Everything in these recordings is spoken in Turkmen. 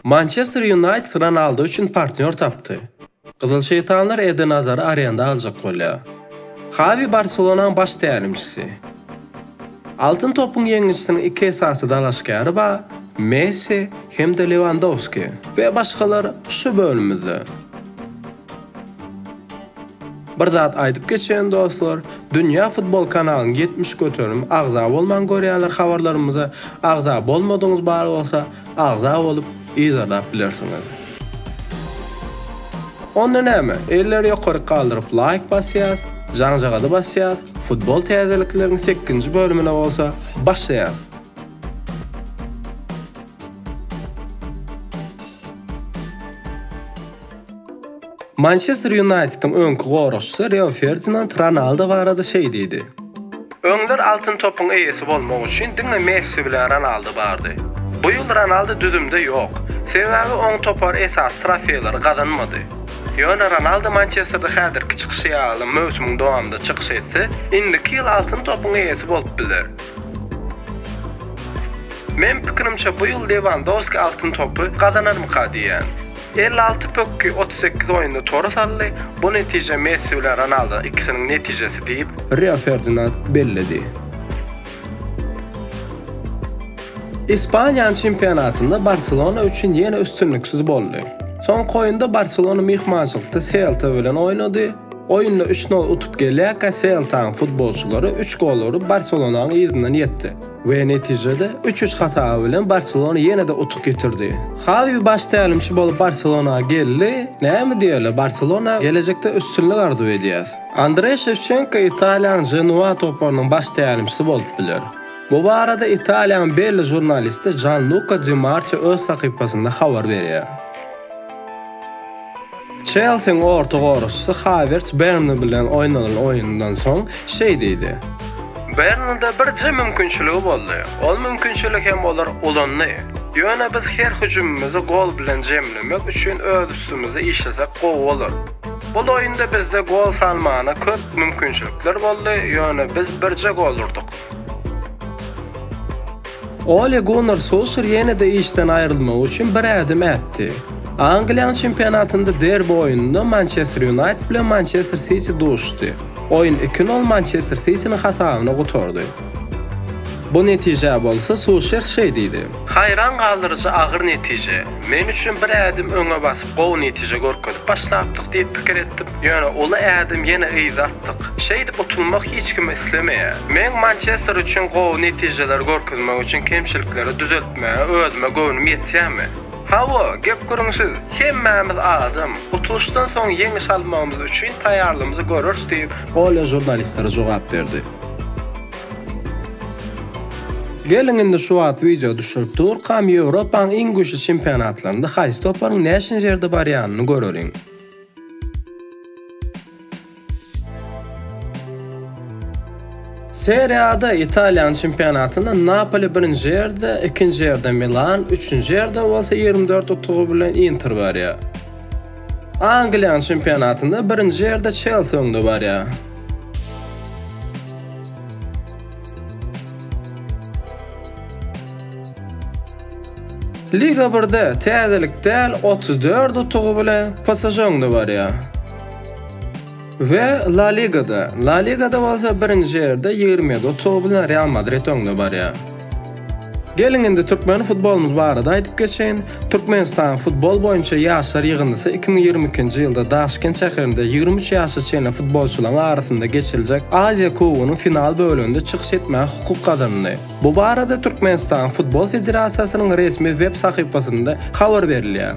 Mançester Ýunaýted Ronaldo üçin partnýor tapdy. Gyzyl şeýtanlar Eden Azary arenda aljak bolýar. Hawi Barselonaň baş tälimçisi. Altyn topyň ýeňijisiniň iki esasy dalaşgäri bar, Messi hem-de Lewandowski we başgalar şu bölümimizde. Bir zat aýdyp geçeýin dostlar, Dünýä futbol kanalyny ýetmiş göterim agza bolman görýärler habarlarymyza, agza bolmadyňyz bar bolsa agza bolup yzarlap bilersiňiz. Onda näme, elleri ýokaryk galdyryp laýk basýas, jaňjagazy basýas, futbol täzelikleriň sekkinji bölümine bolsa başlaýas. Mançester Ýunaýtediň öňki goragçysy Rio Ferdinand Ronaldo barada şeý diýdi. Öňler Altyn topyň eýesi bolmak üçin diňe Messi bilen Ronaldo bardy. Bu ýyl Ronaldo düzümde ýok. Sebäbi oň topar esasy trofeýleri gazanmady. Ýöne Ronaldo Mançesterde häzirki çykyşy ýaly möwsümiň dowamynda çykyş etse, indiki ýyl Altyn topyň eýesi bolup biler. Men pikirimçe bu ýyl Lewandowski Altyn topy gazanarmyka diýýän. Elli alty pökgi otuz sekiz oýunda tora saldy, bu netije Messi bilen Ronaldo ikisiniň netijesi diýip, Rio Ferdinand belledi. Ispaniýanyň çempionatynda Barselona üçin ýene üstünliksiz boldy. Soňky oýunda Barselona myhmançylykda Selta bilen oýnady. Oýunda üç nol utup gelýärkä Seltaň futbolçylary üç gol urup Barselonanyň yzyndan ýetdi. We netijede üç üç hasaby bilen Barselona ýene-de utuk getirdi. Hawi baş tälimçi bolup Barselona geldi, näme diýeli Barselona gelejekde üstünlik arzuw edýäs. Andre Şewçenko Italiýanyň Ženoa toparynyň baş tälimçisi bolup biler. Bu barada Italiýanyň belli žurnalisti Janluka Di Marçio öz sahypasynda habar berýär. Çelsiň orta goraşçysy Hawerts Bernli bilen oýnanan oýundan soň şeý diýdi. Bernlide birje mümkinçiligi boldy. Ol mümkinçiligi hem olar ulandy. Ýöne biz her hüjümimizi gol bilen jemlemek üçin öz üstümize işlesek gowy bolar. Bul oýunda bizde gol salmana köp mümkinçilikler boldy, ýöne biz birje gol urdyk. Ole Gunnar Solşer ýene-de işden aýrylmagy üçin bir ädim ätdi. Angliýanyň çempionatynda derbi oýnunda Mançester Ýunaýted bilen Mançester Siti duşdy. Oýun iki nol Mançester Sitiniň hasabyna gutardy. Bu netijä bolsa Solşer şeý diýdi. Haýran galdyryjy agyr netije. Men üçin bir ädim öňe basyp, gowy netije görkezip başlapdyk diýip pikir etdim. Ýöne uly ädim ýene yza. gatnaşypdyk. Şeýdip utulmak hiç kim islemeýär. Meň Mançester üçin gowy netijeleri görkezmek üçin kemçilikleri düzeltmäge özüme göwnüm ýetýärmi? Hawa, gep-gürrüňsiz, hemmämiz adam. Utulyşdan soň ýeňiş almagymyz üçin taýýarlygymyzy göreris diýip, Olýa žurnalistlere jogap berdi. Geliň indi şu wagt wideo düşürip durkam Ýewropanyň iň güýçli çempionatlarynda haýsy toparyň näçinji ýerde barýanyny göreliň. Serie A-da Italiýanyň çempionatynda Napoli birinji ýerde, ikinji ýerde Milan, üçünji ýerde bolsa ýigrimi dört utugy bilen Inter barýar. Angliýanyň çempionatynda birinji ýerde Çelsi öňde barýar. Liga birde täzelik däl otuz dört utugy bilen PSŽ öňde barýar. We La Ligada, La Ligada bolsa birinji ýerde ýigrimi ýedi utugy bilen Real Madrid öňde barýar. Geliň indi türkmen futbolymyz barada aýdyp geçeýin. Türkmenistanyň futbol boýunça ýaşlar ýygyndysy iki müň ýigrimi ikinji ýylda Daşkent şäherinde ýigrimi üç ýaşa çenli futbolçylaryň arasynda geçiriljek Aziýa kubogynyň final böleginde çykyş etmäge hukuk gazandy. Bu barada Türkmenistan Futbol federasiýasynyň resmi web sahypasynda habar berilýär.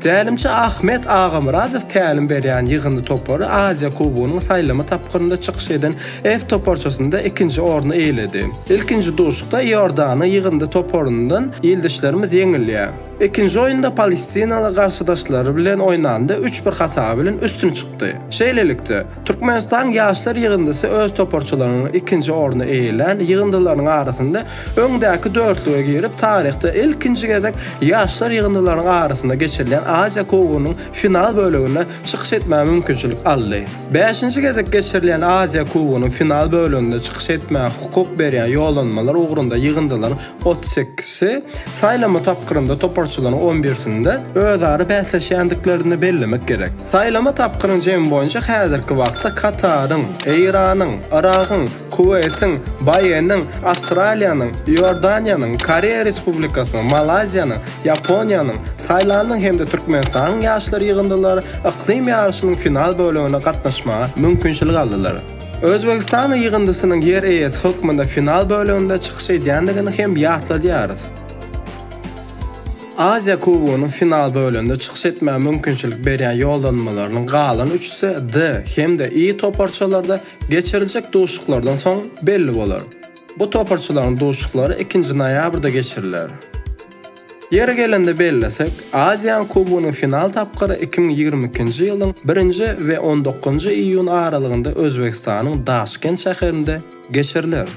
Tälimçi Ahmet Agamyradow tälim berýän ýygyndy topary Aziýa kubogynyň saýlama tapgyrynda çykyş eden F toparçasynda ikinji orny eýeledi. Ilkinji duşuşykda Iordanyň ýygyndy toparyndan ildeşlerimiz ýeňilýär. Ikinji oýunda palestinaly garşydaşlary bilen oýnanda üç bir hasaby bilen üstün çykdy. Şeýlelikde, Türkmenistan ýaşlar ýygyndysy öz toparçalarynyň ikinji orny eýelän ýygyndylarynyň arasynda öňdäki dörtlüge girip, taryhda ilkinji gezek ýaşlar ýygyndylarynyň arasynda geçirilýän Aziýa kubogynyň final böleginde çykyş etmäge mümkinçilik aldy. Bäşinji gezek geçirilýän Aziýa kubogynyň final böleginde çykyş etmäge hukuk berýän ýollanmalar ugrunda ýygyndylaryň otuz sekizisi, saýlama tapgyrynda toparçalaryň on birsinde özara bäsleşýändiklerini bellemek gerek. Saýlama tapgyryň jemi boýunça häzirki wagtda Kataryň, Eýranyň, Yragyň, Kuweýtiň, BAE-niň, Awstraliýanyň, Iordaniýanyň, Koreýa Respublikasynyň, Malaýziýanyň, Ýaponiýanyň, Taýlandyň hem-de Türkmenistanyň ýaşlar ýygyndylary yklym ýaryşynyň final bölegine gatnaşmaga mümkinçilik aldylar. Özbegistan ýygyndysynyň ýer eýesi hökmünde final böleginde çykyş edýändigini hem ýatladýarys. Aziýa Kubogynyň final böleginde çykyş etmäge mümkinçilik berýän ýollanmalarynyň galan üçüsi D hem-de I toparçalarda geçiriljek duşuşyklardan soň belli bolar. Bu toparçalaryň duşuşyklary ikinji noýabrda geçiriler. Ýeri gelende bellesek, Aziýanyň kubogynyň final tapgyry iki müň ýigrimi ikinji ýylyň birinji we on dokuzynjy iýun aralygynda Özbegistanyň Daşkent şäherinde geçiriler.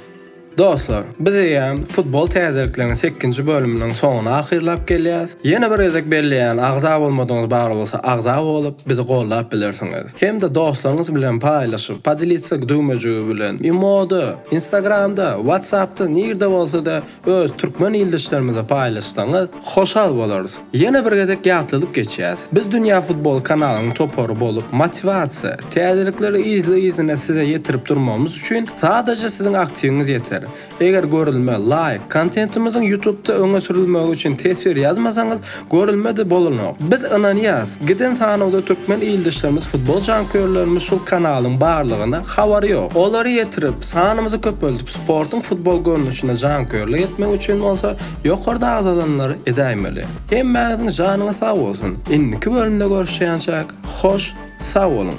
Dostlar, biz eýýäm futbol täzelikleriniň sekizinji bölüminiň soňuna ahyrlap gelýäs. Ýene bir gezek belleýän agza bolmadygyňyz bar bolsa agza bolup bizi gollap bilersiňiz. Hem-de dostlaryňyz bilen paýlaşyp, podelitsa düwmejigi bilen, imoda, instagramda, whatsappda nirde bolsada Öz türkmen ildeşlerimize paýlaşsaňyz hoşal bolarys. Ýene bir gezek ýatladyp geçýäs. Biz Dünýä Futbol kanalynyň topary bolup motiwasiýa, täzelikleri yzly-yzyna size ýetirip durmagymyz üçin sadaja siziň aktiwiňiz ýeter. Eger görülme, laýk, kontentimiziň ýutubda öňe sürülmegi üçin teswir ýazmasaňyz, Görülmedi bolanok. Biz ynanýas, giden sanawda türkmen ildeşlerimiz futbol janköýerlerimiz şul kanalyň barlygyny habary ýok. Olary ýetirip, sanymyzy köpeldip sportuň futbol görnüşine janköýerlik etmek üçin bolsa ýokarda agzalanlary edäýmeli. Hemmäňiziň janyňyz sag bolsun. Indiki bölümde görüşýänçäk, hoş sag boluň.